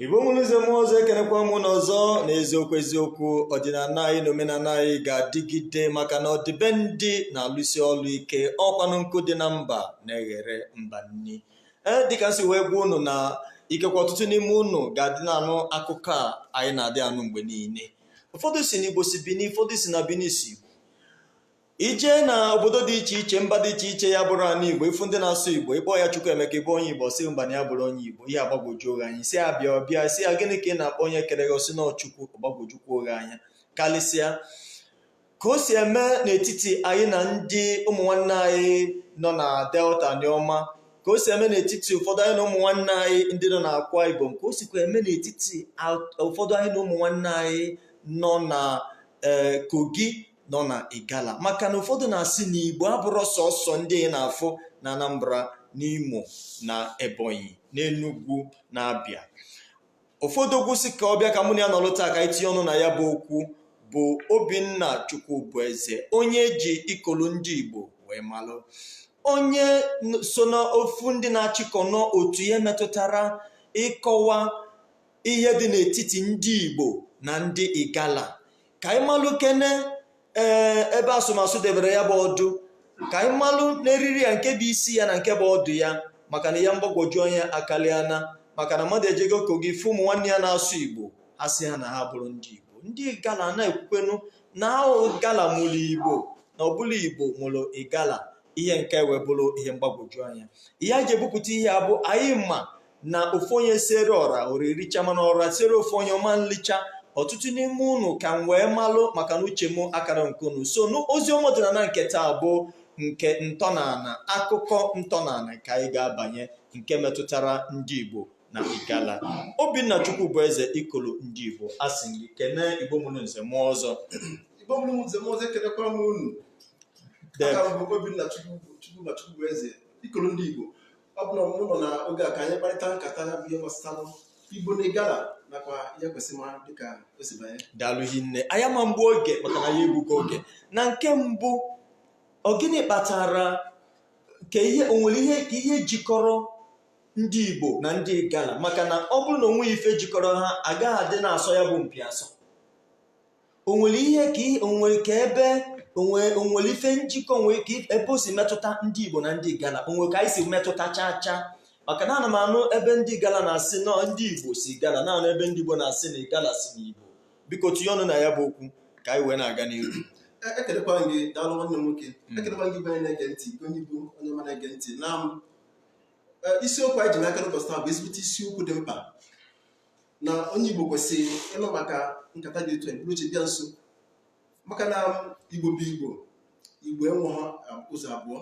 igbo mụrụ nze mụọ ọzọ ekenekwa m unu ọzọ na eziokwu eziokwu ọdịnala anyị na omenala anyị ga-adịgide maka na ọdịbendị na-alụsi ọlụ ike ọ kwanụ nkụ dị na mba na-eghere mba nni ee dịka m si wee gwa unu na ikekwa ọtụtụ n'ime unu ga-adị na-anụ akụkọ a anyị na-adị anụ mgbe niile ụfọdụ sị na igbo si bini ụfọdụ sị na bini si i je na obodo dị iche iche mba dị iche iche ya bụrụ ana igbo ị fụ ndị na-asụ igbo ị kpọọ ya Chukwuemeka ị bụ onye igbo ọ sị mba na ya abụrọ onye igbo ihe agbagwojuo gị anya ị sị ya bịa ọ bịa ị sị ya gịnị ka ị na-akpọ onye kere gị ọ sị na ọ chukwu ọ gbagwojukwuo gị anya karịsịa ka o si eme n'etiti anyị na ndị ụmụ nwanne anyị nọ na delta anioma ka o si eme n'etiti ụfọdụ anyị na ụmụ nwanne anyị ndị nọ na akwa ibom ka o sikwa eme n'etiti ụfọdụ anyị na ụmụ nwanne anyị nọ na eh, kogi nọ na Igala maka na ụfọdụ na-asị na Igbo abụrọ sọsọ ndị ị na-afụ na Anambra n'Imo na Ebonyi n'Enugwu na Abịa ụfọdụ okwu sị ka ọ bịa ka mụ na ya nọrọ taa ka anyị tinye ọnụ na ya bụ okwu bụ Obinna Chukwubueze onye e ji ikolo ndị Igbo wee malụ onye so n'ofu ndị na-achịkọ n'otu ihe metụtara ịkọwa ihe dị n'etiti ndị Igbo na ndị Igala ka anyị malụ kene ee ebe asụmasụ debere ya bụ ọdụ ka anyị malụ n'eriri ya nke bụ isi ya na nke bụ ọdụ ya maka na ihe mgbagwoju anya akaliana maka na mmadụ ejego kogi fụ ụmụ nwanne ya na-asụ igbo ha sị ha na ha abụrọ ndị igbo ndị igala na-ekwukwanụ na ọ igala mụrụ igbo na ọ bụrọ igbo mụrụ igala ihe nke wee bụrụ ihe mgbagwoju anya ihe e ji ebupụta ihe a bụ anyị ma na ofu onye siere ọra ọra erichaa mana ọra siere ofu onye ọ ma nlicha ọtụtụ n'ime unu ka m wee malụ maka na uche m akarọ nke unu so n'ozi ọma ọdịnala nke taa bụ nke ntọnala akụkọ ntọnala nke anyị ga-abanye nke metụtara ndị Igbo na Igala Obinna Chukwubueze ikolo ndị Igbo a sị gị kene Igbo mụrụ nze mụọ ọzọ Igbo mụrụ nze mụọ ọzọ ekenekwara m unu aha m bụ Obinna Chukwubueze ikolo ndị Igbo ọ bụ na mụ nọ na oge a ka anyị kparịta nkata ya bụ ihe gbasara igbo na igala nakwa ihe e kwesịrị ịmara dịka o si banye daalụ hinne anyị ama mgbu oge maka na anyị egbugo oge na nke mbụ ọ gịnị kpatara ka ihe o nwere ihe jikọrọ ndị igbo na ndị igala maka na ọ bụrụ na o nweghị ife jikọrọ ha agaghị adị na-asọ ya bụ mpi asọ o nwere ihe ka ihe o nwere ka ebe o nwere o nwere ife njikọ o nwere ka if- ebe o si metụta ndị igbo na ndị igala o nwere ka anyị si metụta chaa chaa maka na ana m anụ ebe ndị igala na-asị na ndị igbo si igala na-anụ ebe ndị igbo na-asị na igala si n'igbo biko tinye ọnụ na ya bụ okwu ka anyị wee na-aga n'ihu E- ekelekwa m gị daalụ nwanne m nwoke Mm. ekelekwa m gị bụ onye na-ege ntị gị onye igbo onye ọma na-ege ntị na um e, isiokwu anyị ji n'aka n'ụbọchị taa bụ ezigbote isiokwu dị mkpa na onye Igbo kwesịrị ịnụ maka nkata dị otu a buru oche bịa nso maka na Igbo bụ Igbo Igbo enwehọ um, ụzọ abụọ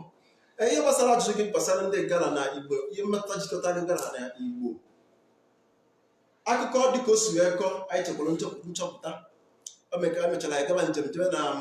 e, ihe gbasara ajụjụ gị gbasara ndị ịgara na Igbo ihe mmetụta jikọta ndị ịgara na Igbo akụkọ dịka o si wee kọọ anyị chekwara nchọpụta o mechara anyị gaba njem jebe na um,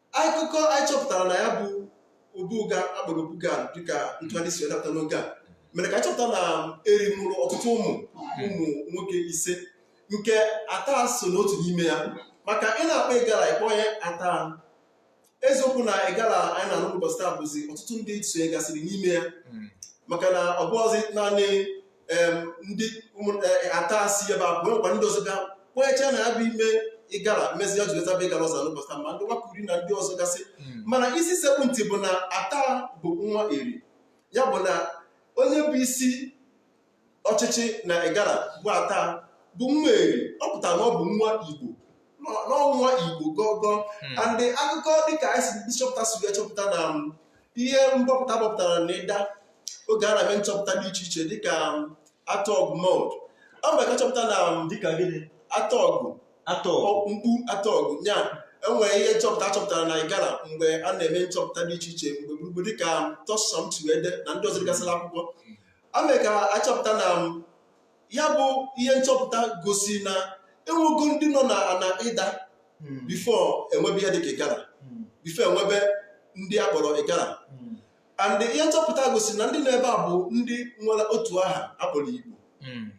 akụkọ anyị chọpụtara na ya bụ obu uga akpọrọ obu gad dịka ntụgharị si dapụta n'oge a mere ka anyị chọpụta na eri mụrụ ọtụtụ ụmụ ụmụ nwoke ise nke ata so n'otu n'ime ya maka ị na-akpọ ịgara ị kpọọ ya ata eziokwu na ịgara anyị na-anụ ụbọchị taa bụzi ọtụtụ ndị sonyegasịrị n'ime ya maka na ọ bụghịzi naanị ndị e, ata si ebe a nwekwa ndị ọzọ bịa kwecha na ya bụ ime ịgara mezi ya jiri zaba ịgara ọzọ n'ụbọchị taa ma ndị wakuri na ndị ọzọ gasị hmm. mana isi sekpụ ntị bụ na ata bụ nwa eri ya bụ na onye bụ isi ọchịchị na ịgara bụ ata bụ nwa eri ọ pụtara na ọ bụ nwa igbo n'ọ- na ọ nwa igbo gọgọ Hmm. and akụkọ dịka anyị si ndị nchọpụta si wee chọpụta na um, ihe mbọpụta a bọpụtara na ịda oge a na-eme nchọpụta dị iche iche dịka um, atogwu mound mee ka achọpụta na um, dịka gịnị atogwu ato- mkpu atogwu ya enwere ihe nchọpụta a chọpụtara na igala mgbe a na-eme nchọpụta dị iche iche n'ebe gburugburu dịka thurstan chikwendu na ndị ọzọ degasịla akwụkwọ a mere ka achọpụta na um, ya bụ ihe nchọpụta gosi na enwego ndị nọ na ana ịda Hmm. before enwebe ihe dịka ịgara Hmm. before enwebe ndị a kpọrọ ịgara Hmm. and ihe nchọpụta gosiri na ndị nọ ebe a bụ ndị nwere otu aha akpọrọ igbo Hmm.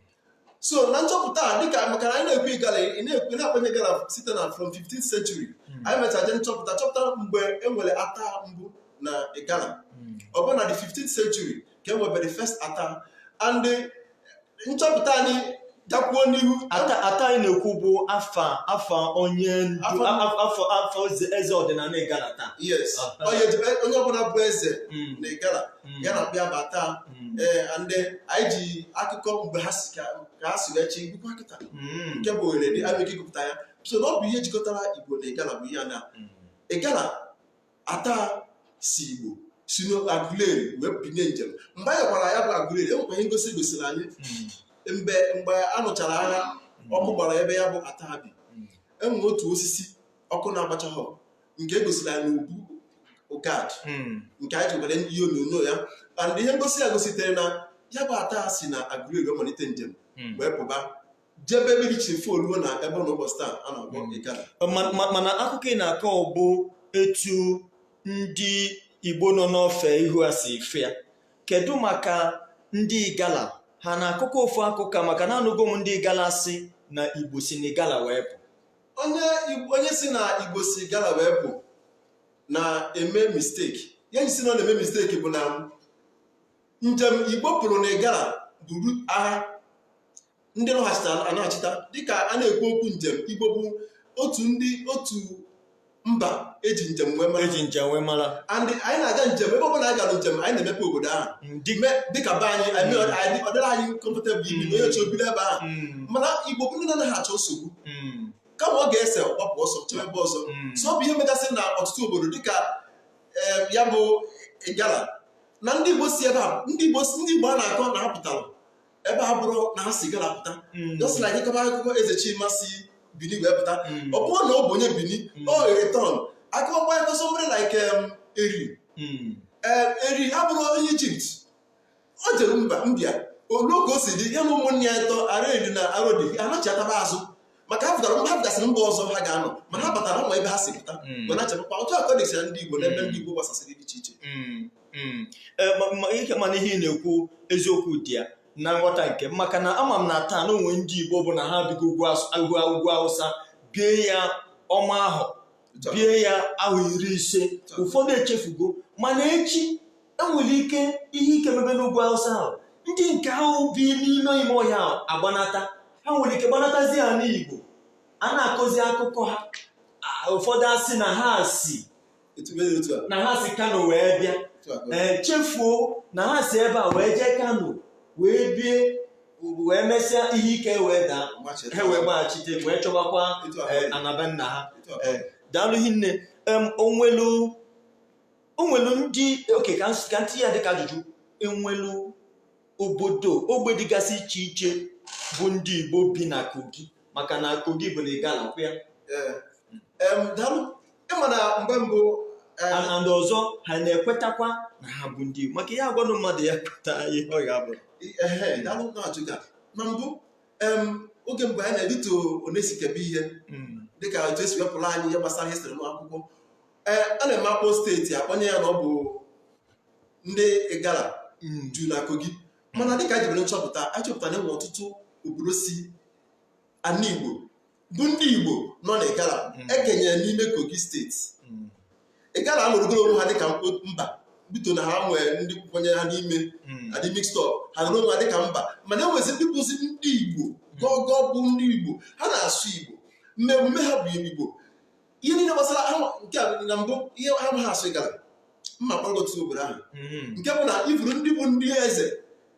so na nchọpụta a dịka maka na anyị na-ekwu igala ị na-ekwu ị na-akpanye ịgara site na from 15th century Hmm. anyị mechara je nchọpụta chọpụta mgbe e nwere ata mbụ na igala Hmm. ọ bụ na the 15th century ka e nwebere first ata and eh, nchọpụta anyị gakwuo n'ihu ata ata anyị na-ekwu bụ afa afa onye ndu Afa- a- a- afọ afọ eze eze ọdịnala igala taa yes Ah. onye ji- onye ọbụla bụ eze Mm, na igala mm, ya na bịa bụ ata mm, and anyị ji akụkọ mgbe ha si ka ka ha si wee chi ngwụkwa kịta mm, nke bụ ohere dị abịa ike gụpụta ya so na ọ bụ ihe jikọtara igbo na igala bụ ihe a na mm. igala ata si igbo si n'aguleri wee binie njem mgbe anyị gara ya bụ aguleri enwekwa ihe ngosi egosiri anyị hmm. mgbe mgbe a nụchara agha hmm. ọkụ gbara ebe ya bụ ata bi hmm. enwere otu osisi ọkụ na-agbachaghọ nke egosiri anyị n'obu gad nke anyị jewere ihe onyonyo ya and ihe ngosi ya gositere na ya bụ ata si na aguleri malite njem wee pụba jebe mmiri chifo ruo na ebe ọ nọ n'ụbọchị taa a na-akpọ mm. Igala mana akụkọ ị na-akọ bụ etu ndị Igbo nọ n'ofe ihu a si fụ ya kedu maka ndị Igala ha na-akọkọ ofu akụkọ maka na anụgo m ndị Igala sị na Igbo si na Igala wee pụ onye sị na Igbo si Igala wee pụ na-eme mistake ihe eji sị na ọ na-eme mistake bụ na njem Igbo pụrụ na Igala buru agha ndị naghachita anaghachita dịka a na-ekwu okwu njem igbo bụ otu ndị otu mba eji njem wee mara eji njem wee mara and anyị na-aga njem ebe ọbụla anyị gara njem anyị na-emepe obodo ahụ ndị Me- dịka be anyị anyị mee- anyị- ọ dịrị anyị comfortable ibi na onye oche obido ebe ahụ Mm, mana igbo bụ ndị na-anaghị achọ nsogbu mm, kama ọ ga-ese ọ gbapụ ọsọ jebe ebe ọzọ mm. so ọ bụ ihe megasị na ọtụtụ obodo dịka eh, ya bụ igala na ndị igbo si ebe a ndị igbo ndị igbo a na-akọ na ha pụtara ebe a bụrụ na ha si igala pụta mm. just like ịkọba akụkọ eze chima si bini wee pụta mm. ọ bụrọ na ọ bụ onye bini mm. ọ return akụkọ banyere somebody like um, eri eh, eri abụrọ onye egypt o jere mba ndị a olu ka o si dị ya na ụmụnne ya ịtọ areli na arodi anachiataba azụ maka ha pụtara ha pụtasịrị mba ọzọ ha ga-anọ mana ha batara ụmụ ebe ha si pụta hmm. ma na-achịkwa otu akọ na-esi na ndị Igbo na ebe hmm. ndị Igbo gbasasịrị dị iche iche hmm. eh, ihe mana ihe ị na-ekwu eziokwu dị ya na nghọta nke m maka na ama m na taa na o nwere ndị Igbo bụ na ha bigo ugwu awụsa bie ya ọma ahụ bie ya ahọ iri ise ụfọdụ echefugo mana echi enwere ike ihe ike mebe n'ugwu awụsa ahụ ndị nke ahụ bi n'ime ime ọhịa ahụ agbanata ha nwere ike gbanatazia n'igbo a na-akọzi akụkọ ha a- ụfọdụ asị na ha si Etu mere otu a. na ha si kano wee bịa Otu a ka ọ dị. ee chefuo na ha si ebe a wee jee kano wee bie ugwu wee mesịa ihe ike wee daa ha wee gbaghachite wee chọbakwa eh, ana be nna ha Eh, daalụ hinne em onwelu onwelu ndị okay ka ns- ka m tinye ya dịka ajụjụ enwelu obodo ogbe dịgasị iche iche bụ ndị igbo bi na kogi maka na kogi bụ na igala kwụ ya Ee. Em, daalụ ịma na mgbe mbụ eh, and and ọzọ ha na-ekwetakwa na ha bụ ndị Igbo maka ya agwanụ mmadụ ya kweta ihe ọ ga-abụ ehe, daalụ na-ajụga na mbụ em, oge mgbe anyị na-etolite onesikebe ihe Mm. dịka otu esi wepụrụ anyị ihe gbasara histri n'akwụkwọ ee a na-eme akpọ steeti akpọnye ya na ọ bụ ndị igala Mm. ju na kogi mana dịka anyị jebere nchọpụta anyị chọpụtara na enwe ọtụtụ obodo si ana igbo bụ ndị igbo nọ na igala Mm. ekenyere n'ime kogi steeti Mm, igala anọrọgoro onwe ha dịka mkpo- mba buto na ha nwee ndị kwenyere ha n'ime mm, ha dị mixed up ha nọrọ onwe ha dịka mba mana enwezi ndị bụzi ndị igbo gọgọ bụ ndị igbo ha na-asụ igbo mmemme ha bụ igbo ihe niile gbasara ha nke a na mbụ ihe ha ma ha asụ igala mma kpọrọ otu obodo ahụ mm-hmm. nke bụ na ị fụrụ ndị bụ ndị eze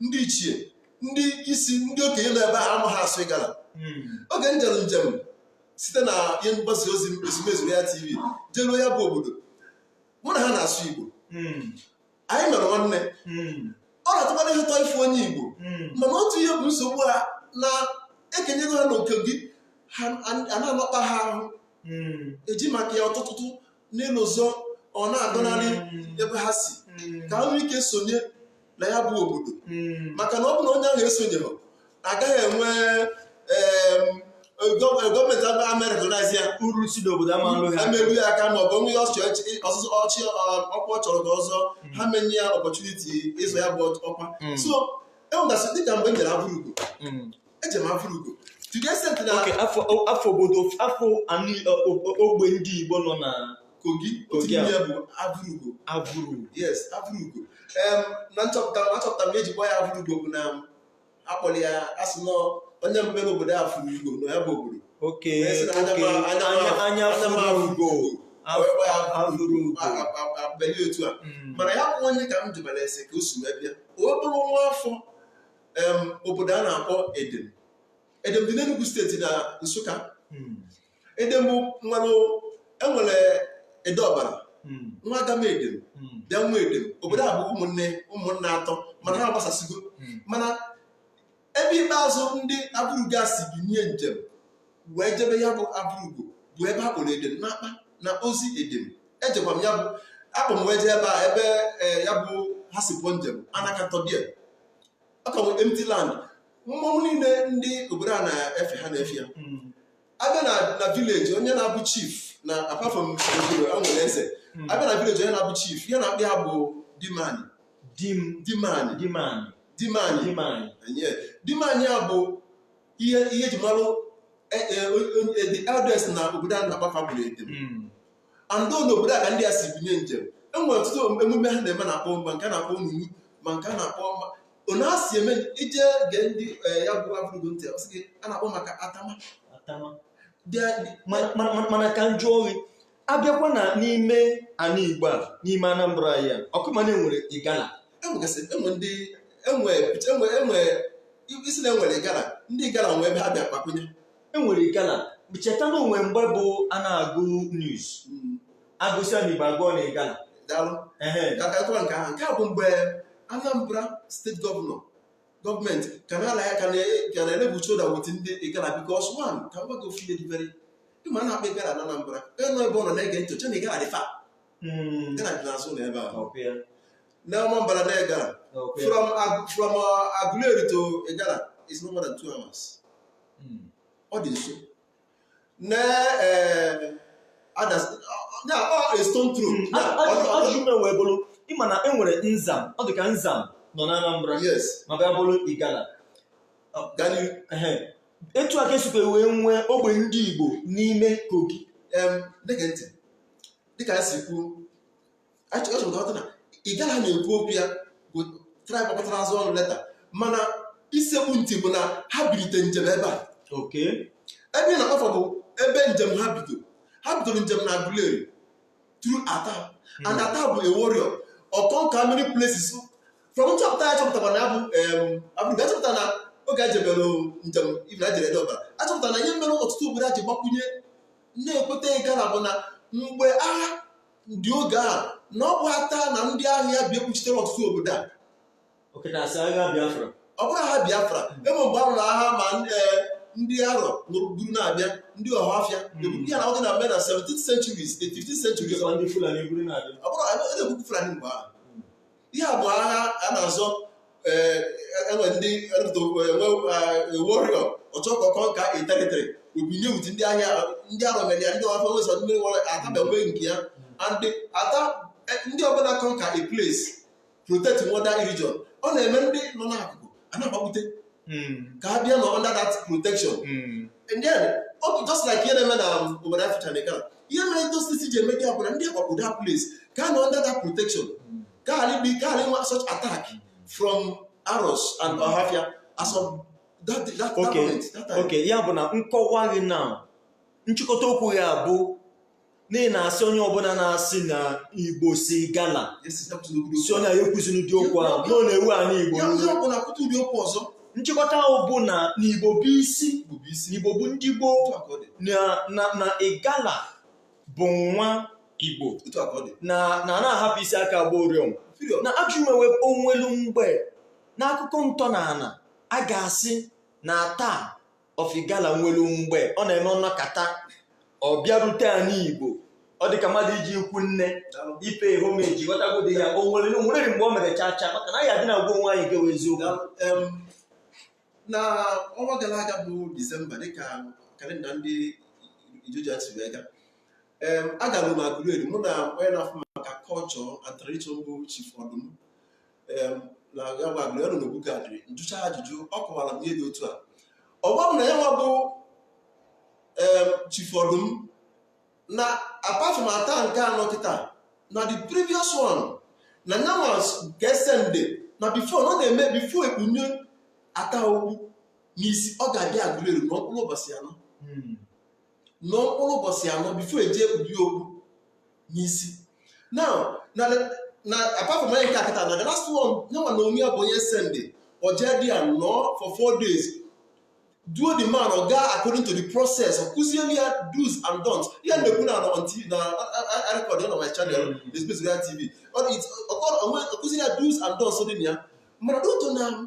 ndị ichie ndị isi ndị okenye nọ ebe ahụ ama ha asụ igala mm-hmm. oge m jere njem site na ihe mgbasa ozi ezumezu ya tv jeruo ya bụ obodo mụ na ha na-asụ igbo mm-hmm. anyị mere nwanne ọ na-atọkwanụ ha ụtọ ịfụ onye igbo mana otu ihe bụ nsogbu ha na ekenyego ha na kogi ha a- a na-emekpa ha ahụ eji maka ya ọtụtụtụ n'elu ụzọ ọ na-agọnarị ebe ha si ka ha nwee ike sonye na ya bụ obodo maka na ọ bụ na onye ahụ esonyeghị agaghị enwe gọọmenti agba amerịka na-asị ya uru si n'obodo ama ama eru ya aka ma ọ bụ o nwee ọchị ọsụsụ ọchị ọkwa ọ chọrọ ka ọ zọọ ha ama enye ya ọpọchuniti ịzọ ya bụ ọkwa so enwegasị dịka mgbe m jere avụrugo eje m avụrugo afa obodo afa ogbe ndị igbo nọ na kogi otu ya bụ avụrugo avụrugo yes avụrugo na nchọpụta na achọpụtara m eji kpọọ ya avụrugo bụ na akpọrọ ya asị na onye mbụ mere obodo a fụrụ ugo na ya bụ obodo oke anya fụrụ ugo a beli otu a hmm. mana ya bụ onye ka m jụbara ese ka o si wee bịa ọ bụrụ nwa afọ obodo a na-akpọ edem edem dị n'Enugu steeti na Nsụka hmm. edem bụ ịmanụ enwere ede ọbala hmm. nwee agamede hmm. bịa nwee edem obodo a bụ ụmụnne ụmụnne atọ mana ha gbasasịgo hmm. mana ebe ikpeazụ ndị avụrugo si binye njem wee jebe ya bụ avụrugo bụ ebe a kpọrọ edem n'akpa na ozi edem ejekwa m ya bụ akpa m wee jee ebe a ebe eh, ya bụ ha si pụọ njem anakatọbia ọ ka bụ empty land mmọnwụ niile ndị obodo a na-efe ha na-efe ya abịa na na vileji onye na-abụ chief na apart from obodo a nwere eze abịa na village onye na-abụ chief ihe na-akpọ ha bụ dimani di m dimani di m anyị dimani di m anyị Enye. dimani a bụ ihe ihe eji malụ eh, eh, eh, the elders na obodo a na-akpọ fa bụrụ edem Mm. and ọ n'obodo a ka ndị a si binye njem e nwere ọtụtụ emume ha na-eme na-akpọ ma nke a na-akpọ onunu ma nke a na-akpọ ma ona si eme ije gee ndị eh, ya bụ Avụrụgo ntị ọ sị gị a na-akpọ maka atama Atama. Bịa- mana mana- mana ka m jụọ gị abịakwa na n'ime ala igbo a n'ime anambra anyị a ọkwa ị ma na enwere igala enwegasị enwe ndị enwe enwe enwe ị sị na enwere igala ndị igala nwe ebe ha bịa kpakwunye enwere igala cheta na o nwe mgbe bụ a na-agụ news Mm. agụsịa na igbo agụọ na igala daalụ ehe ga-agatụwa nke ahụ nke a bụ mgbe anambra steeti gọvanọ gọọmenti ka na-ala ya ka na- ka na-erub shoulder with ndị igala because one ka m gwa gị ofu ihe dị very ịma a na-akpọ igala na anambra ịnọ ebe ọ nọ na-ege ntị ọ chee na igala dị far Mm. igala dị n'azụ na ebe ahụ Ọkwa ya, na ọmambara na igala ọkwa ya. from Ag- from uh, aguleri to igala is no more than two hours hmm. ọ dị nso na eh, a stone throw hmm. ajụjụ m wee bụrụ ị ma na e nwere nzam ọ dị ka nzam nọ na Anambra ma bịa bụrụ Igala etu a ka esikwa wee nwee ogbe ndị Igbo n'ime Kogi dịka esi kwuo achọrọ m ka ị ghọta na igala na-ekwu okwu ya bụ tribe gbakọtara azụ ọnụ later mana isekpu ntị bụ na ha bilite njem ebe a okay ebe ị na-akpafọ bụ ebe njem ha bido ha bidoro njem na Aguleri through Ata and Ata bụ a warrior ọ conquer many places from nchọpụta ya chọpụtara na ya bụ em, Avụrụgo achọpụta na oge a jebere njem ibi na jere Ede Ọbara achọpụtara na ihe mere ọtụtụ obodo a ji gbakwunye na-ekweta igala bụ na mgbe agha ndị oge a na ọ bụ ata na ndị agha ya bịa kpuchitere ọtụtụ obodo a okay na asị agha biafra ọ bụrọ agha biafra ebe mgbe a lụrụ agha ma eh, ndị arọ lụrụ buru na-abịa ndị ọhafịa eburu ya na ọ dị na mbe na 17th centuries the 15th century ọzọ ndị fulani eburu na-abịa ọ bụrụ na na-ekwukwu fulani mgbe ahụ ihe a bụ agha a na-azọ eh, enwe ndị enwe warrior ọ chọọ ka ọ conquer territory o binye with ndị agha ya ndị arọ mere ya ndị ọhafịa wesa mmiri wara ata na onwe nke ya and ata eh, ndị ọbụla conquer a place protect water region ọ na-eme ndị nọ n'akụkụ a na-agbakwute hmm. ka ha bịa nọ under that protection hmm. and then otu just like ihe na-eme na um, obodo Africa na Igala ihe mere those things ji eme gị abụ na ndị agbapụ that place ka nọ under that protection hmm. ka alịbi ka ghalị inwe such attack from Aros and Ohafia as of that that moment. Okay, ya bụ na nkọwa gị na nchịkọta okwu ya bụ na ị na-asị onye ọbụla na-asị na igbo si igala sị onye ahụ ya ekwuzina ụdị okwu ahụ na ọ na-ewu anị igbo ọzọ nchịkọta ahụ bụ na na igbo bụ isi na igbo bụ ndị gboo na igala bụ nwa igbo na a na-ahapụ isi aka agba ụrịọm na ajụ imewe onwelu mgbe n'akụkọ ntọ na ana a ga-asị na Ata of Igala nwere mgbe ọ na-eme ọ nọkata ọ bịarute anị igbo ọ dị ka mmadụ ije ikwu nne ịpay homage ị ghọtagodị ya o nwere o nwere mgbe o mere chacha maka na anyị adị na-agwa onwe anyị gewe eziokwu Daalụ. Em, na ọnwa gara aga bụ disemba dịka kalenda ndị ijoja si wee ga em agara m Aguleri mụ na onye na-afụ maka culture and tradition bụ chief ọdụm na Aguleri nọ n'Obu Gad m jụchaa ajụjụ ọ kọwara m ihe dị otu a ọ gwa m na ya nwa bụ chief ọdụm na apart from Ata nke a nọ kịta na the previous one na nyanwa ka e send na before na ọ na-eme before e kpunye Ata okpu n'isi ọ ga-abịa Aguleri nọọ mkpụrụ ụbọchị anọ nọọ mkpụrụ ụbọchị anọ before e je ekpube okpu n'isi now na na apart from onye nke a kịta na the last one nyanwa n'onwe ya bụ onye e send o jee there nọọ for four days duo the man ọ gaa according to the process ọ kụziere ya do's and don'ts ihe m na-ekwu na a nọ on tv na record na my channel Express Royal tv ọ dị- ọ kọrọ- ọ nwe- ọ kụziere ya do's and don'ts dị na ya mana n'otu na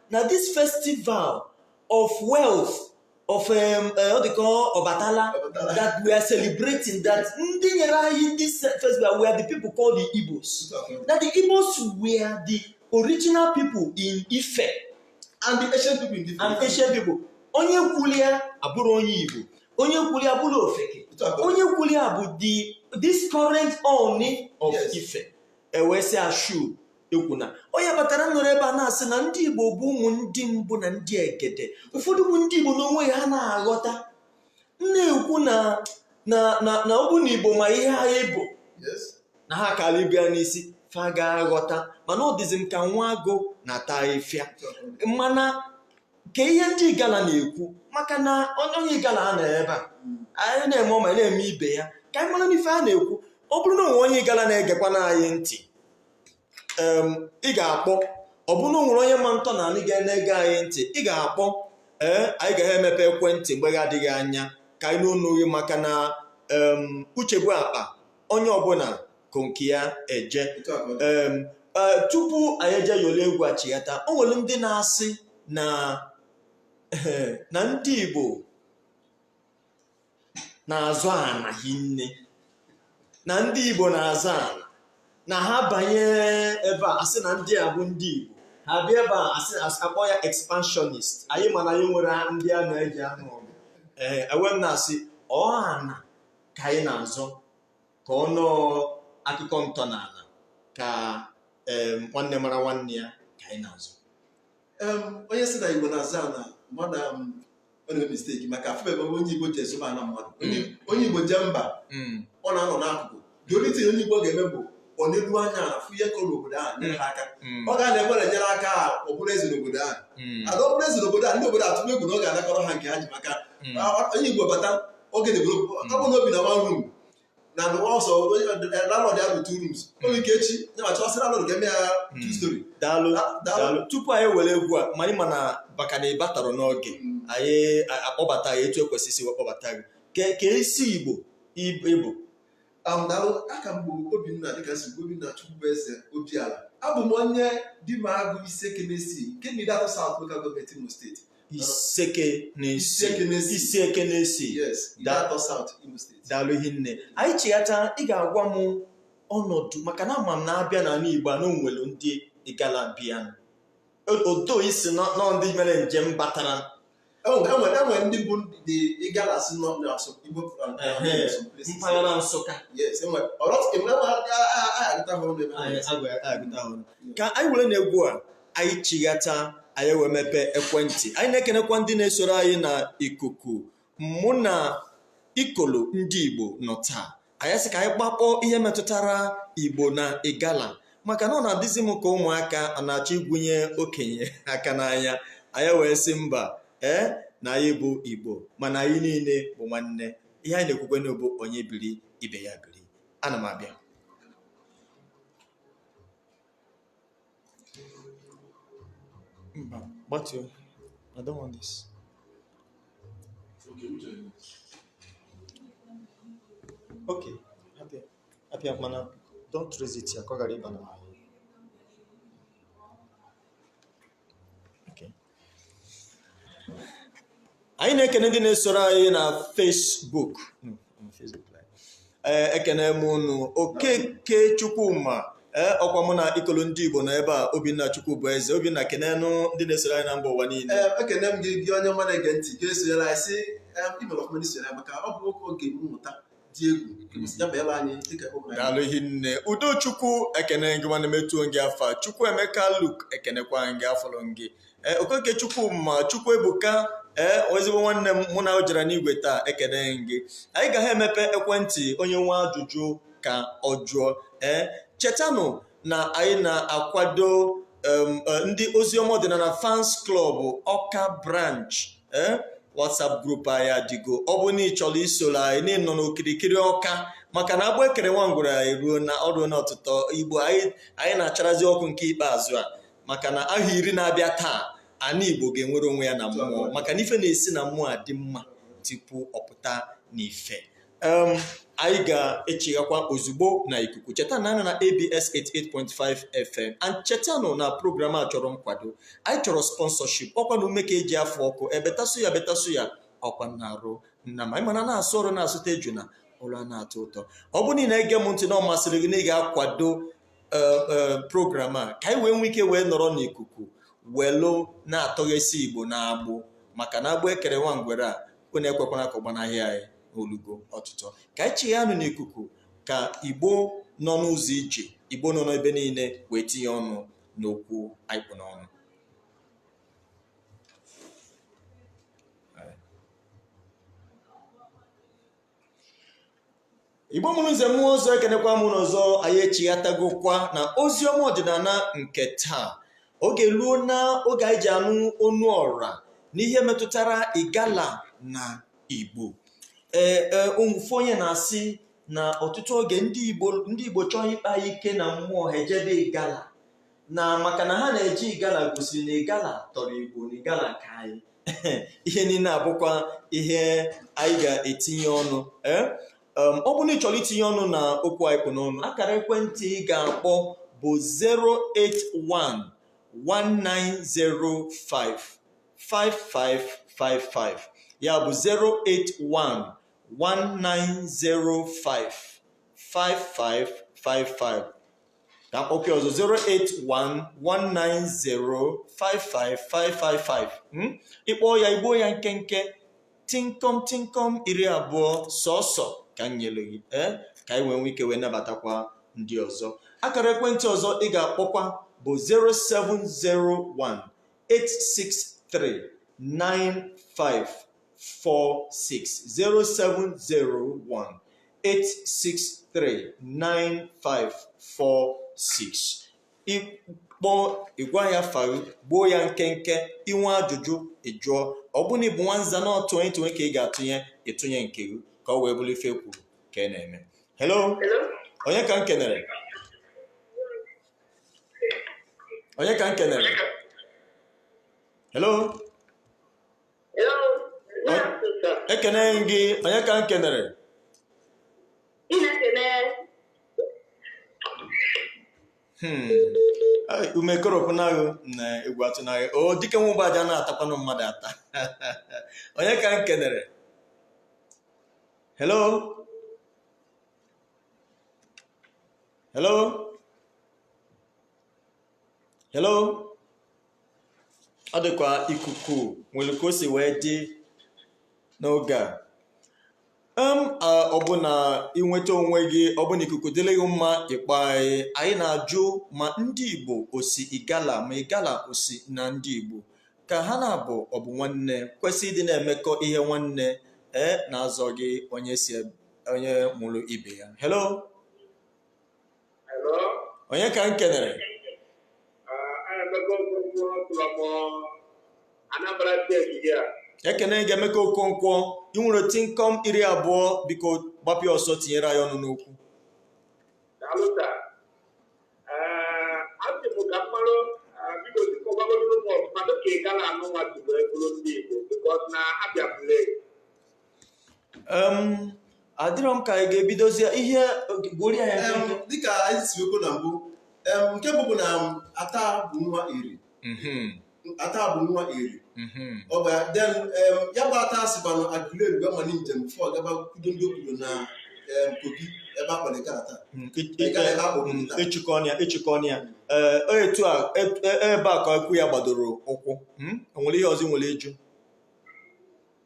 na this festival of wealth of um, eh, ọ dịka Ọbatala Ọbatala. that we are celebrating that ndị nyere anyị this festival were the people called the Igbos that the Igbos were the original people in Ife and the ancient people in different and ancient people onye kwuli ya abụrọ onye Igbo onye kwuli ya abụrọ ofeke Otu a ka ọ dị. onye kwuli ya bụ the this current Ooni of Yes. Ife ewesị ashu ekwu na onye batara nọrọ ebe a na-asị na ndị Igbo bụ ụmụ ndị mbụ na ndị egede ụfọdụ bụ ndị Igbo n'onwe ha na-aghọta na-ekwu na na na na ọ bụ na Igbo ma ihe anyị bụ Yes. na ha kara ibe ya n'isi fa ga-aghọta mana ọ dịzi m ka nwa agụ na-ata afịfịa mana nke ihe ndị igala na-ekwu maka na onye onye igala a nọ ebe a anyị na-eme ọma na-eme ibe ya ka anyị mara n'ife a na-ekwu ọ bụrụ na o nwere onye igala na-egekwa na anyị ntị em, ị ga-akpọ ọ bụrụ na o nwere onye ma ntọ n'anị ga-ege anyị ntị ị ga-akpọ ee anyị ga-emepe ekwentị mgbe na-adịghị anya ka anyị nụ ọnụ gị maka na em, uche bụ akpa onye ọbụla ko nke ya eje Otu a ka ọ dị. Em, eh, tupu anyị eje yọrọ egwu a chighata o nwere ndị na-asị na na ndị Igbo na-azụ ana hinne na ndị Igbo na-azụ ana na ha banye ebe a asị na ndị a bụ ndị Igbo ha bịa ebe a asị asị akpọ ya expansionist anyị ma na anyị nwere ndị a na-eji anụ ọgụ ee ewee m na-asị ọ ana ka anyị na-azọ ka ọ nọọ akụkọ ntọala ka em, nwanne mara nwanne ya ka anyị na-azọ Em, onye sị na igbo na-azọ ana mmadụ am, ọ na-eme mistake maka afụbe ebe onye igbo jee zọba ana mmadụ Onye- onye igbo jee mba Mm. ọ na-anọ n'akụkụ the only thing onye igbo ga-eme bụ o neru anya ala fụ ihe kọrọ n'obodo ahụ nyere ha aka mm. ọ ga na-ekwere nyere aka ọ bụrụ eze n'obodo ahụ mm. ada ọ bụrụ eze n'obodo ahụ ndị obodo atụọ egwu na ọ ga-anakọrọ ha nke ha ji maka mm. onye Igbo bata ọ ga-edevelop ọ bụ na o bi na one room taa nụwa ọ sị landlord ya bụ two rooms o nwee ike echi nwanne echi ọ sị landlord ka e mee ya two storey daalụ daalụ tupu anyị were egwu a ma anyị ma na baka na ị batara n'oge anyị akpọbata ya etu e kwesịrị wee kpọbata gị ka esi Igbo ị bụ am daalụ aha m bụ obinna dịka si bụ obinna chukwubueze obiala abụ m onye dimagụ isiekenesi nke ideato south local government imo state isiekenesi Isiekenesi. isiekenesi yes Da- ideato south imo state daalụ hinne anyị chighata ị ga-agwa m ọnọdụ maka na ama m na a bịa n'ala igbo a na o nwelu ndị igala bịa odo isi nọ nọ ndị mere njem batara e nwere ndị bụ ndị igala si nọ na Igbo mpaghara Nsụka ka anyị were na egwu a anyị chighata anyị wee mepee ekwentị anyị na-ekenekwa ndị na-esoro anyị na ikuku mụ na ikolo ndị Igbo nọ taa anyị sị ka anyị kpakọ ihe metụtara igbo na igala maka na ọ na-adịzi m ka ụmụaka a na-achọ igwunye okenye aka n'anya anyị wee sị mba ee na anyị bụ igbo mana anyị niile bụ nwanne ihe anyị na-ekwukwenụ ọ bụ onye biri ibe ya biri ana m abịa Mba, gbatuo. I don't want this. Okay, hapụ ya hapụ ya mana don't raise it ya ka ọ ghara ịba na anyị na-ekene ndị na-esoro anyị na Facebook ee ekene m unu okeke chukwuma ee ọkwa mụ na ikolo ndị igbo nọ ebe a obinna chukwu bụ eze obinna kenenụ ndị na-esoro anyị na mba ụwa niile Ee, ekene m gị gị onye ọma na-ege ntị ga-esonyere anyị sị em, ị mere ọfụma n'isonyere anyị maka ọ bụ nwoke oge mmụta dị egwu kwesịrị ya meela anyị dịka ụmụ ya daalụ hinne udochukwu ekene m gị nwanne m etuo m gị afa chukwu emeka luk ekenekwa m gị afụrụ m gị ee okeke chukwuma chukwu ebuka ee ezigbo nwanne m mụ na o jere n'igwe taa ekene m gị anyị ga-emepe ekwentị onye nwe ajụjụ ka ọ jụọ ee chetanụ na anyị na-akwado um, eh, ndị oziọma ọdịnana fans club ọka branch eh, whatsapp group anyị adịgo ọ bụ na ị chọrọ isoro anyị na ịnọ n'okirikiri ọka maka na agbụ ekere nwa ngwere eruona o ruona ọtụtọ igbo anyị anyị na-acharazi ọkụ nke ikpeazụ a maka na ahọ iri na-abịa taa ana igbo ga-enwere onwe ya na mmụọ maka na ife na-esi na mmụọ adị mma tupu ọ pụta n'ife anyị ga-echighakwa ozugbo na ikuku chetanụ na a nọ na abs 88.5 fm and chetanụ na program a chọrọ nkwado anyị chọrọ sponsorship ọkwa na ume ka eji afụ ọkụ ebeta suya ebeta suya ọkwa na arụ nama ị mana na-asụ ọrụ na-asụta ejuna ọrụ ana-atọ ụtọ ọ bụ na ị na-ege m ntị na ọ masịrị gị na ị ga-akwado program a ka anyị wee nwee ike wee nọrọ n'ikuku welụ na-atọghesi igbo na agbụ maka na agbụ ekere nwa ngwere a unu ekwekwana ka ọ gbanahị anyị olugo ọtụtọ ka anyị chighaanụ n'ikuku ka igbo nọ n'ụzọ ije igbo nọ n'ebe niile wee tinye ọnụ n'okwu anyị kpụ n'ọnụ igbo mụrụ nze mụọ ọzọ ekenekwa m unu ọzọ anyị echighatagokwa na ozi ọma ọdịnana nke taa oge eruona oge anyị ji anụ onu ọra n'ihe metụtara igala na igbo ee ee ofu onye na-asị na ọtụtụ oge ndị igbo ndị igbo chọọ ịkpa ike na mmụọ ha ejebe igala na maka na ha na-eje igala gosiri na igala tọrọ igbo na igala ka anyị ihe niile a bụkwa ihe anyị ga-etinye ọnụ ee um, ọ bụ na ị chọrọ itinye ọnụ na okwu anyị kpụ n'ọnụ akara ekwentị ị ga-akpọ bụ 081 1905 5555 ya bụ 081 1905 5555 ka m kpọke ọzọ 08119055555 hmm? ị kpọọ ya i gbuo ya nkenke tinkom tinkom iri abụọ sọsọ ka m nyere gị ee ka anyị wee nwee ike wee nabatakwa ndị ọzọ akara ekwentị ọzọ ị ga-akpọkwa bụ 0701 863 95 0701 8639546 ị kpọọ ị gwa anyị afa gị gbuo ya nkenke i nwee ajụjụ ị jụọ ọ bụ na ị bụ nwanza na ọtụ onye tụnwe ka ị ga-atụnye ị tụnye nke gị ka o wee bụrụ ife e kwuru ka ị na-eme hello onye ka m kenere onye ka m kenere hello ekene gị onye ka m kenere hmm. ume ekoropụna gị na egwu atụna gị o dike nwa ụgbọaja na-atakwanụ mmadụ ata onye ka m kenere hello hello hello ọ dịkwa ikuku nwere ka o si wee dị n'oge a em a, ọ bụ na i nweta onwe gị ọ bụ na ikuku dịrị gị mma ị kpọọ anyị anyị na-ajụ ma ndị igbo o si igala ma igala o si na ndị igbo ka ha na-abụ ọ bụ nwanne kwesị ịdị na-emekọ ihe nwanne ee na-azọghị onye si eb- onye mụrụ ibe ya hello onye ka m kenere ekene gị emeka okonkwo i nwere tinkom iri abụọ biko gbapịa ọsọ tinyere anyị ọnụ n'okwu Em, adịrọ m ka anyị ga-ebidozie ihe gbuoro anyị Em, nkenke. dịka anyị si wee kwuo na mbụ em, nke mbụ bụ na m, ata bụ nwa eri Mhm, ata bụ nwa eri mhm. ọ bụ ya then em, ya bụ ata sikwanụ agụleri wee mali njem before ọ gaba kwudo ndị okpoto na em, kogi ebe a kpọrọ igala taa Mm, e- Igala ebe a kpọrọ mm, taa ị chịkọ ọnụ ya ị chịkọ ọnụ ya ee ọ etu a e- e- ebe a ka okwu ya gbadoro ụkwụ Mm, o nwere ihe ọzọ i nwere ịjụ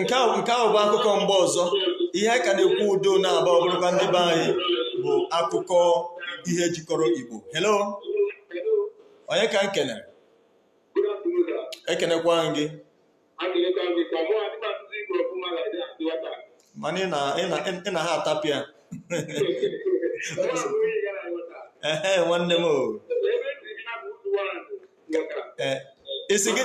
nke ahụ bụ akụkọ mgbe ọzọ ihe a ka na-ekwu udo na-aba ọ bụrụkwa ndị be anyị bụ akụkọ ihe jikọrọ Igbo hello onye ka m kenere ekenekwa m gị mana ị na ha atapịa ehe nwanne m o isi gị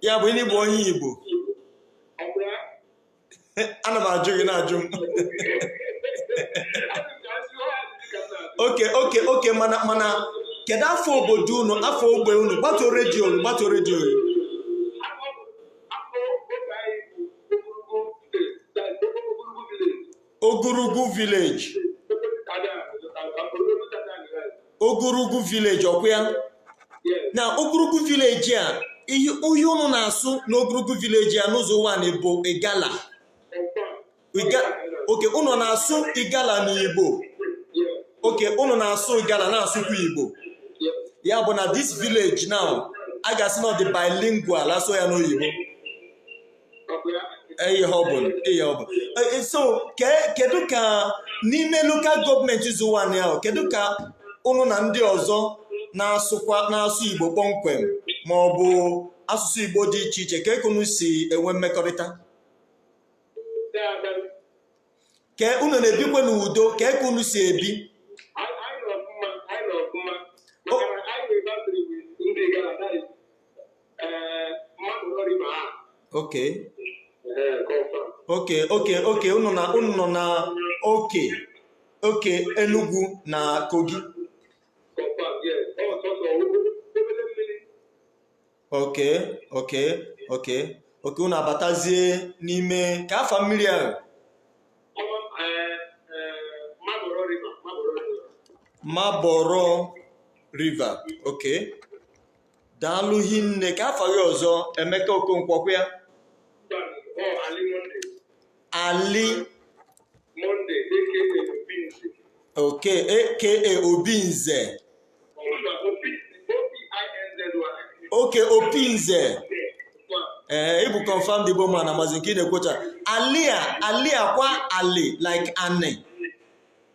ya bụ na ị bụ onye Igbo ana m ajụ gị na-ajụ m okay okay okay mana mana kedu afa obodo unu afa ogbe unu gbatuo redio unu gbatuo redio unu Ogurugu village Ogurugu village ọkwa ya na Ogurugu village a ihe ihe unu na-asụ n'Ogurugu village a n'Ụzọ Ụwanị bụ Igala Iga- okay unu na-asụ Igala na Igbo okay unu na-asụ Igala na-asụkwa Igbo ya bụ na this village now a ga-asị na ọ dị bilingual a sụọ ya n'oyibo ihe ọ bụla ihe ọ bụla Eh, so ke- kedu ka n'ime lokal gọọmenti Ụzọ Ụwanị ahụ kedu ka ụnụ na ndị ọzọ na-asụkwa na-asụ igbo kpọmkwem ma ọ bụ asụsụ igbo dị iche iche kee ka ụnụ si enwe mmekọrịta ka unu na-ebikwe n'udo kee ka unu si ebi okay okay okay okay unu na unu nọ na oke oke Enugu na Kogi okay okay okay okay unu abatazie n'ime kee afa mmiri ahụ Mabolo river okay daalụ hinne kee afa gị ọzọ Emeka Okonkwo ọ kwa ya Ali Monday aka Obinze. Okay, aka Obinze. Okay, Obinze. Eh, ị bụ confirmed Igbo man na mazi nke ị na-ekwucha. Alia, Ali ọ kwa Ali like Anị.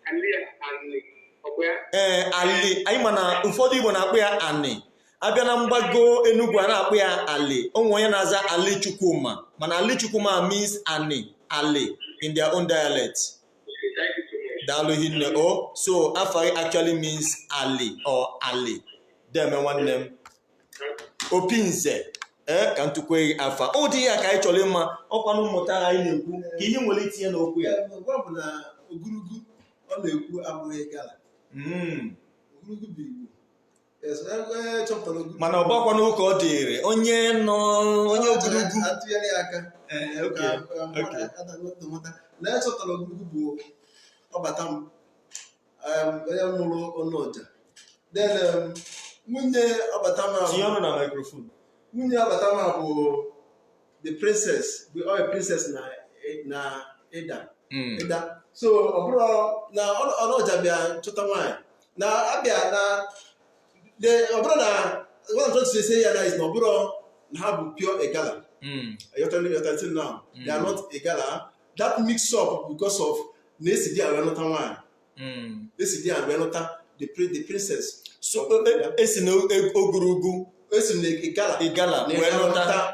Ali, Anị. Ee, eh, Ali, anyị ma na ụfọdụ Igbo na-akpọ ya Anị. abịa na mgbago Enugu a na-akpọ ya Ali o nwe onye na-aza Ali Chukwuma mana Ali Chukwuma means Ani Ali in their own dialect daalụ hinne o so afa actually means Ali or Ali deme nwanne m opi nze ee ka ntukwue gị afa ụdị ihe a ka anyị chọrọ ịma ọkwanụ mmụta anyị na-ekwu ka ihe m nwere itinye n'okwu ya bụ na Ogurugu ọ na-ekwu abụghị Igala hmm. Ogurugu bụ igbo mana ọ bakwa n'ụka ọ dịrị onye nọ onye Ogurugu atụgharị aka na echọtara Ogurugu bụ Ọbatam onye mụrụ Ọnọja then nwunye Ọbatam tinye ọnụ na microphone nwunye Ọbatam bụ the princess bụ ọya princess na na Idah hmm. Idah so ọ bụrụ na Ọnọja bịa chọta nwaanyị na abịa na ọ bụrụ na what I'm trying to say here now is na ọ bụrụ na ha bụ pure Igala ị ghọtara ị ghọtara till now they are not Igala that mix up because of na esi Idah gaa nụta nwaanyị Mm. esi Idah wee lụta the pri- the princess so e- esi na e- Ogurugu esi na Igala Igala na wee ya lụta lụta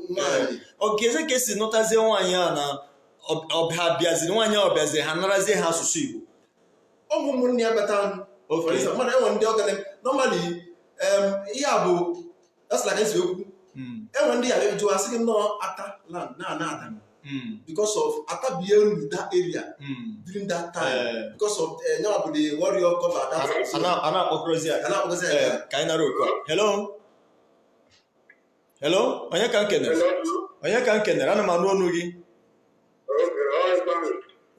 nwaanyị okay so ka esi nụtazie nwaanyị a na ọ- ọ- ha bịaziri nwaanyị a ọ bịaziri ha narazie ha asụsụ igbo ụmụ ụmụnne ya bata Okay. mmadụ e nwe ndị Igala normally ihe a bụ that's like ezi okwu e nwe ndị ị ya-ajụ a sị gị na ọ Attah land na ana adam because of Attah bịa ruru that area during that time because of na ya wa bụ the warrior cover that a na-akpọkọrọzi ya a na-akpọkọzi ya Eh, ka anyị nara oku a hello hello onye ka m kenere onye ka m kenere ana m anụ ọnụ gị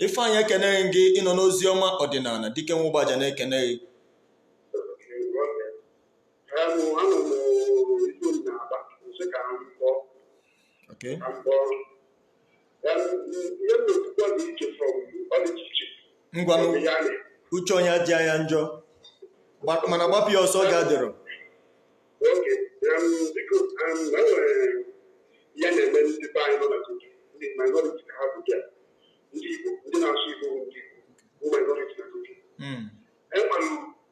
Ifeanyị ekenee m gị ịnọ n'ozi ọma ọdịnala Dike nwa Ụgbaja na-ekene gị ngwanụ uche onye adịa ya njọ mana gbapụ ya ọsọ ga dịrọ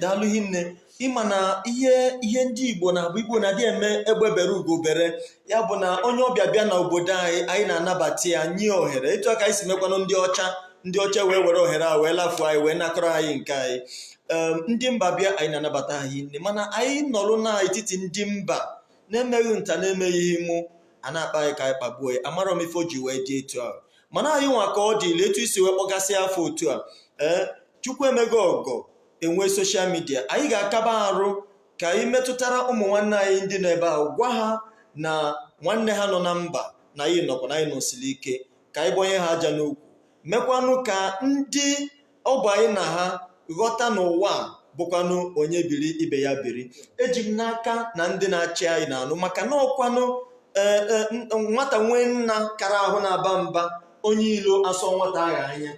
daalụ hinne ị ma na ihe ihe ndị igbo na-abụ igbo na-adị eme egbe bere ugo bere ya bụ na onye ọbịa bịa na obodo anyị anyị na-anabata ya nye ya ohere etu a ka anyị si mekwanụ ndị ọcha ndị ọcha wee were ohere a wee lafuo anyị wee nakọrọ anyị nke anyị ndị mba bịa anyị na-anabata ha hinne mana anyị nọrụ n'etiti ndị mba na-emeghị nta na-emeghị imo a na-akpa anyị ka anyị kpagbuo ya amarọ m ife o ji wee dị etu ahụ mana anyị nwa ka ọ dịla etu i si wee kpọgasị afa otu a ee chukwu emego ọgọ enwee social media anyị ga-akaba arụ ka anyị metụtara ụmụ nwanne anyị ndị nọ ebe ahụ gwa ha na nwanne ha nọ na mba na anyị nọkwa na anyị nọsiri ike ka anyị gbanye ha aja n'ukwu mekwanụ ka ndị ọ bụ anyị na ha ghọta na ụwa a bụkwanụ onye biri ibe ya biri eji m n'aka na ndị na-achị anyị na-anụ maka na ọkwanụ ee, ee, n- nwata nwee nna kara ahụ na-aba mba onye ilo asọ nwata agha anya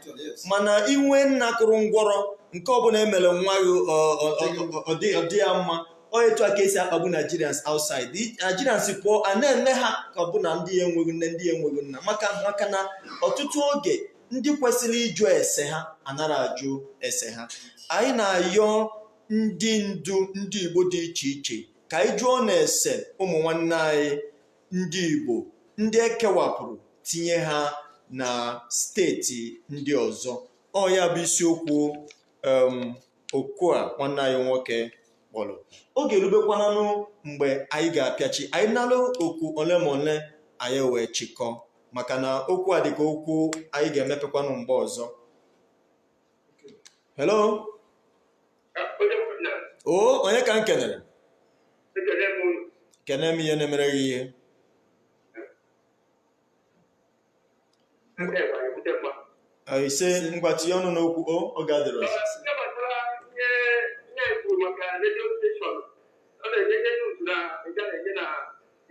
mana i nwee nna kụrụ ngwọrọ nke ọbụla emere nwa gị ọ- ọ- ọ- ọ- ọ dị- ọ dị ya mma ọ etu a ka esi akpagbu Nigerians outside I- Nigerians pụọ a na-eme ha ka ọ bụ na ndị ya enweghị nne ndị ya enweghị nna maka maka na ọtụtụ oge ndị kwesịrị ịjụ ese ha anara ajụ ese ha anyị na-ayọ ndị ndu ndị igbo dị iche iche ka anyị jụọnụ ese ụmụ nwanne anyị ndị igbo ndị ekewapụrụ tinye ha na steeti ndị ọzọ ọ ya bụ isiokwu um, oku a nwanne anyị nwoke kpọrọ oge erubekwananụ mgbe anyị ga-apịachi anyị nalụ oku ole ma ole anyị wee chịkọọ maka na okwu a dịka okwu anyị ga-emepekwanụ mgbe ọzọ hello o onye ka m kenere kene m ihe na-emere gị ihe Ah, ise ngwa tinye ọnụ n'okwu o oge adịrọ ọzọ.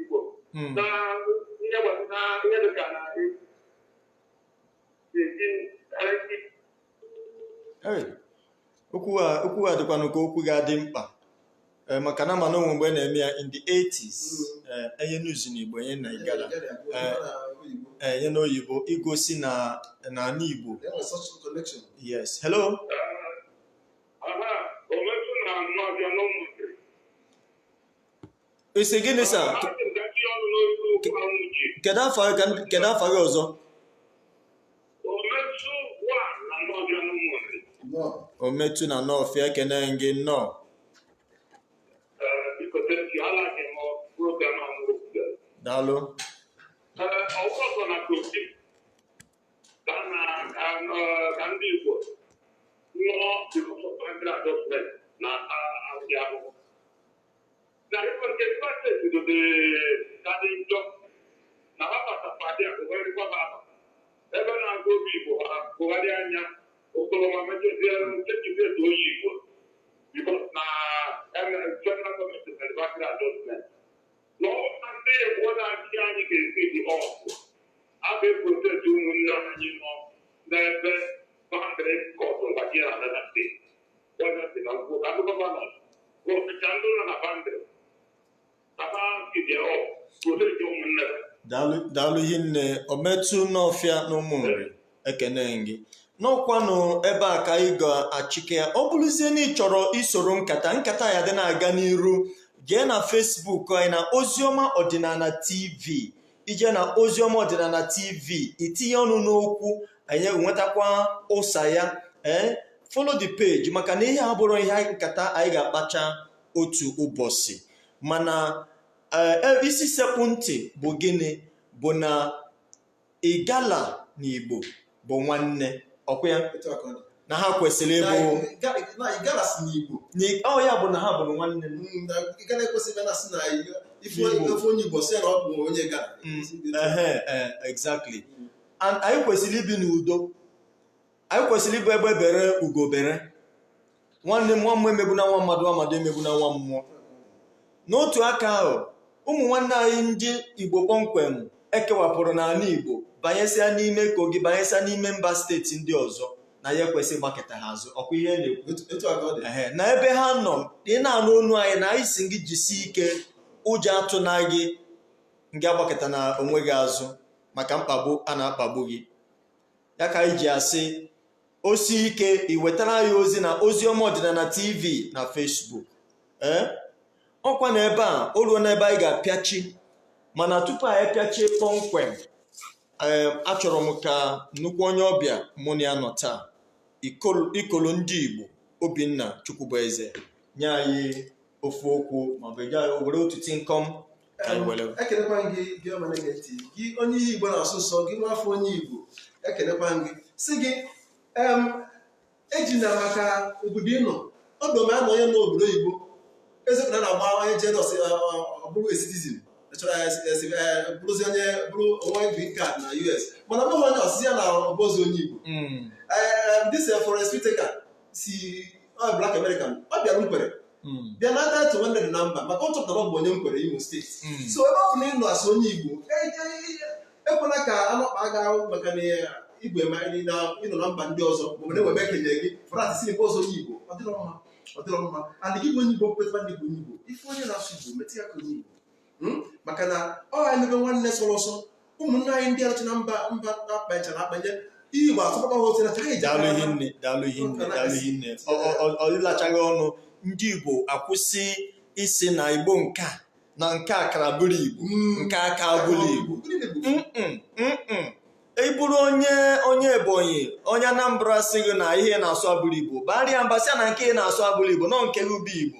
Igbo hmm. na ihe gbasara ihe dị ka na okwu a dịkwanụ ka okwu ga-adị mkpa eh, maka na mana o nwe mgbe a na-eme ya in the 80s hmm. eh, enye news n'Igbo enye na Igala eh, enye n'oyibo igosi na n'ala Igbo yes hello ị sị gịnị sir kedu afa kedu afa gị ọzọ Ometu na Nọọfịa ekene gị nnọọ daalụ ka ndị Igbo nụọ na ahụhụ na Rivers nke Rivers steeti dote ka dị njọ na ha bata pati a gụgharịkwa ha aba ebe na-agụ Obigbo ha gụgharịa ya Okoloma mechazie nchechibietu Oyigbo bikos na federal gọọmenti mere boundary adjustment na ọ na ndị Igbo na-achị anyị ga-esi dị ọkụ a ga-eprotect ụmụnne anyị nọ n'ebe boundary kọtụ mgbachie na Anambra steeti daalụ hinne ometu n'ọfịa n'ụmụ nri ekene m gị n'ọkwanụ ebe a ka anyị ga-achịke ya ọ bụrụzie na ị chọrọ isoro nkata nkata ya dị na-aga n'iru jee na fesbuk anyị na oziọma ọdịnala tv i jee na oziọma ọdịnala tv i tinye ọnụ n'okwu anyị nwetakwa ụsa ya ee follow the page maka na ihe a abụrọ ihe anyị- nkata anyị ga-akpacha otu ụbọchị mana ee, e- isi sekpụ ntị bụ gịnị bụ na igala na igbo bụ nwanne ọkwa ya otu aka ọ dị. na ha kwesịrị Na- ịbụ ga- na Igala si n'Igbo na- ọ ya bụ na ha bụrụ nwanne m Mm, na Igala ekwesị ịbịa na sị na Igbo. ife Igbo. ife onye Igbo sị na ọ bụ onye Igala Mm, ehe, eh, exactly And anyị kwesịrị ibi n'udo anyị kwesịrị ịbụ egbe bere ugo bere nwanne nwa mmụọ emegbuna nwa mmadụ nwa mmadụ emegbuna nwa mmụọ n'otu aka ahụ ụmụ nwanne anyị ndị igbo kpọmkwem e kewapụrụ n'ala igbo banyesịa n'ime kogi banyesịa n'ime mba steeti ndị ọzọ na anyị ekwesị ịgbakịta ha azụ ọkwa ihe na-ekwu Ehe, na ebe ha nọ ị na-anụ onu anyị na anyị sị gị jisie ike ụjọ atụna gị ngị agbakịtana onwe gị azụ maka mkpagbu a na-akpagbu gị ya ka anyị ji asị o sie ike i wetara anyị ozi na ozi ọma ọdịnala tv na fesbuk ee ọkwa na ebe a o ruona ebe anyị ga-apịachi mana tupu anyị pịachie kpọmkwem ee achọrọ m ka nnukwu onye ọbịa mụ na ya nọ taa Ikol- ikolo ndị igbo obinna chukwubueze nye anyị ofu okwu maọbụ ị ga-ewere otu tinkọm ekenekwa m gị gị ọma na-ege ntị gị onye ihe igbo na-asọ ụsọ gị nwa afọ onye igbo ekenekwa m gị sị gị ejina maka obodo ị nọ ọdụ ma anọ onye nọ obodo oyibo ezepụta na agba onye jedos ọ bụrụ citizen bụrụzi onye bụrụ o nwee green card na us mana ọ bụghị onye ọsịsị ya na ọ bụrọzi onye igbo this for a speaker si Black American ọ bịara nkwere hmm. bịa nara title nwanne dị na mba maka ọ chọpụtara ọ bụ onye nkwere Imo steeti hmm. so ebe ọ bụ na ị nọ as onye Igbo e, e, e, ekwela ka anọkpa aga maka na igwe ma ị nọ na mba ndị ọzọ ma na ewebe ekenye gị frat si nke ọzọ onye Igbo ọ dịrọ mma ọ dịrọ mma and gị bụ onye Igbo kwetara na ị bụ onye Igbo ị fụ onye na-asụ Igbo metụ ya ka onye Igbo hmm? maka na ọ ha emebe nwanne sọrọ ọsọ ụmụnne anyị ndị arụcha na mba mba akpachara akpanye iyi ma asọpụta ha otu na anyị ji daalụ hinne daalụ hinne daalụ hinne Ọ- ọ- ọ- ọ dịlachaghị ọnụ ndị igbo akwụsị ịsị na igbo nke a na nke a kara bụrụ igbo nke a ka bụrụ igbo Mm-mm, mm-mm. ị bụrụ onye onye ebonyi onye anambra sị gị na ihe ị na-asụ abụrọ igbo baarị ya mba sị ya na nke ị na-asụ abụrọ igbo na ọ nke gị bụ igbo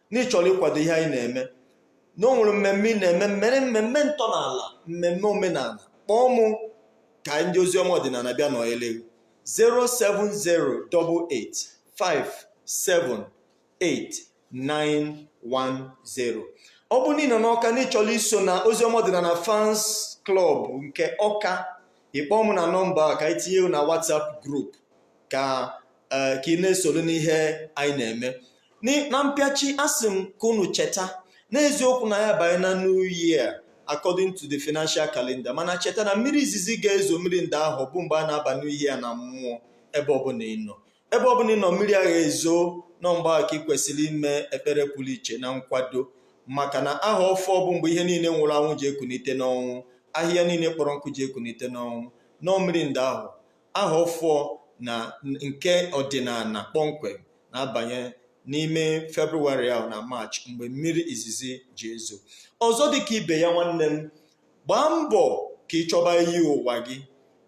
na ị chọrọ ịkwado ihe anyị na-eme na o nwere mmemme ị na-eme mmere mmemme ntọala mmemme omenala kpọọ mụ ka ndị ozi ọma ọdịnala bịa nọnyere gị 07088578910 ọ bụrụ na ị nọ n'ọka na ị chọrọ iso na ozi ọma ọdịnala fans klọb nke ọka ị kpọọ mụ na nọmba a ka anyị tinye gị na whatsapp group ka ee ka ị na-esoro n'ihe anyị na-eme Ni- na mpịachi asị m ka unu cheta n'eziokwu na anyị abanye na new year according to the financial calendar mana cheta na mmiri izizi ga-ezo mmiri nda ahọ bụ mgbe a na-aba new year na mmụọ ebe ọbụla ị nọ ebe ọbụla ị nọ mmiri ahụ ezo na ọ mgbe ahụ ka ị kwesịrị ime ekpere pụrụ iche na nkwado maka na ahọ ọfụụ bụ mgbe ihe niile nwụrụ anwụ ji ekunite n'ọnwụ ahịhịa niile kpọrọ nkụ ji ekunite n'ọnwụ na ọ mmiri nda ahọ ahọ ọfụụ na nke ọdịnala kpọmkwem na-abanye n'ime Febụwarị ahụ na Maachị mgbe mmiri izizi ji ezo ọzọ dịka ibe ya nwanne m gbaa mbọ ka ị chọba iyi ụwa gị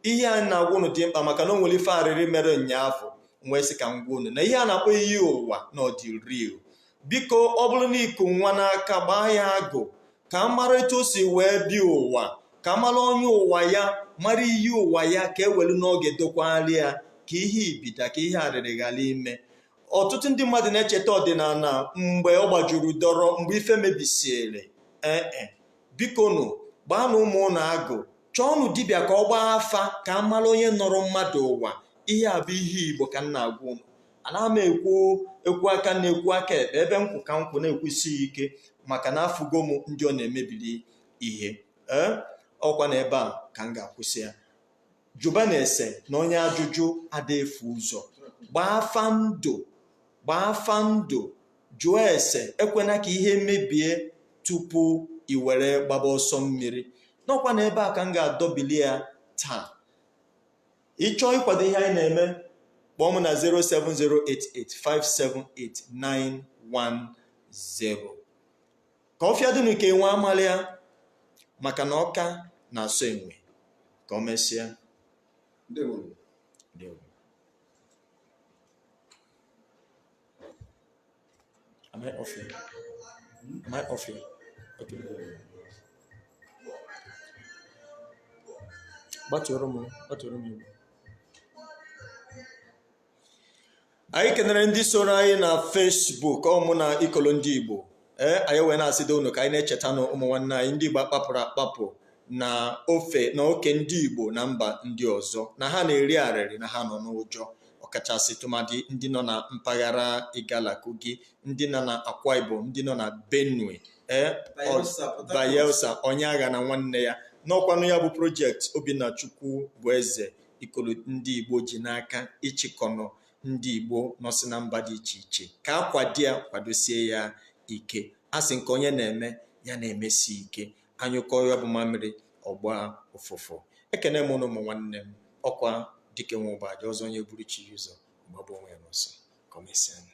ihe a m na-agwa unu dị mkpa maka na o nwere ife arịrị mere ụnyaahụ m wee sị ka m gwa unu na ihe a na-akpọ iyi ụwa na ọ dị real biko ọ bụrụ na i ku nwa n'aka gbaa ya agụ ka a mara etu o si wee bịa ụwa ka a mara onye ụwa ya mara iyi ụwa ya ka e welu n'oge dokwali ya ka ihe ibida ka ihe arịrị ghara ime ọtụtụ ndị mmadụ na-echeta ọdịnala mgbe ọ gbajuru dọrọ mgbe ife mebisiere ee e bikonu gbaanụ ụmụ ụnụ agụ chọọnụ dibịa ka ọ gbaa afa ka a mara onye nọrọ mmadụ ụwa ihe a bụ ihe igbo ka m na-agwa ụnụ anaghị m ekwu ekwu aka nri ekwu aka ekpe ebe m kwụ ka m kwụ na-ekwusi ya ike maka na afụgo m ndị ọ na-emebiri ihe ee ọkwa na ebe a ka m ga-akwụsị ya jụbanụ ese na onye ajụjụ ada efu ụzọ gbaa afa ndụ gbaa afa ndụ jụọ ese ekwena ka ihe mebie tupu i were gbaba ọsọ mmiri n'ọkwa na ebe a ka m ga-adọbili ya taa ị chọọ ịkwado ihe anyị na-eme kpọọ m na 07088578910 ka ọfịa dụnụ ka enwe amalị ya maka na Ọka na-asọ enwe ka o mesịa ndewo. Am I off air? Am I off air? Okay. Gbatuoro m, gbatuoro m igwe. anyị kenere ndị soro anyị na Facebook ọmụ na ikolo ndị igbo ee anyị wee na-asịdo unu ka anyị na-echetanụ ụmụ nwanne anyị ndị igbo a kpapụrụ akpapụ na ofe na oke ndị igbo na mba ndị ọzọ na ha na-eri arịrị na ha nọ n'ụjọ ọkachasị tụmadị ndị nọ na mpaghara Igala Kogi ndị nọ na Akwa Ibom ndị nọ na Benue ee Bayelsa onye aghana nwanne ya n'ọkwanụ ya bụ project Obinna Chukwu bụ eze ikolo ndị Igbo ji n'aka ịchịkọ ọnụ ndị Igbo nọsị na mba dị iche iche ka a kwado ya kwadosie ya ike a sị nke onye na-eme ya na-emesi ike a nyụkọọ ya bụ mamịrị ọ gbaa ụfụfụ ekene m ụnụ ụmụ nwanne m ọ kwa dike nwe ụba aja ọzọ onye buru chi ya ụzọ ọ gbagbuo onwe ya n'ọsọ ka o mesịanụ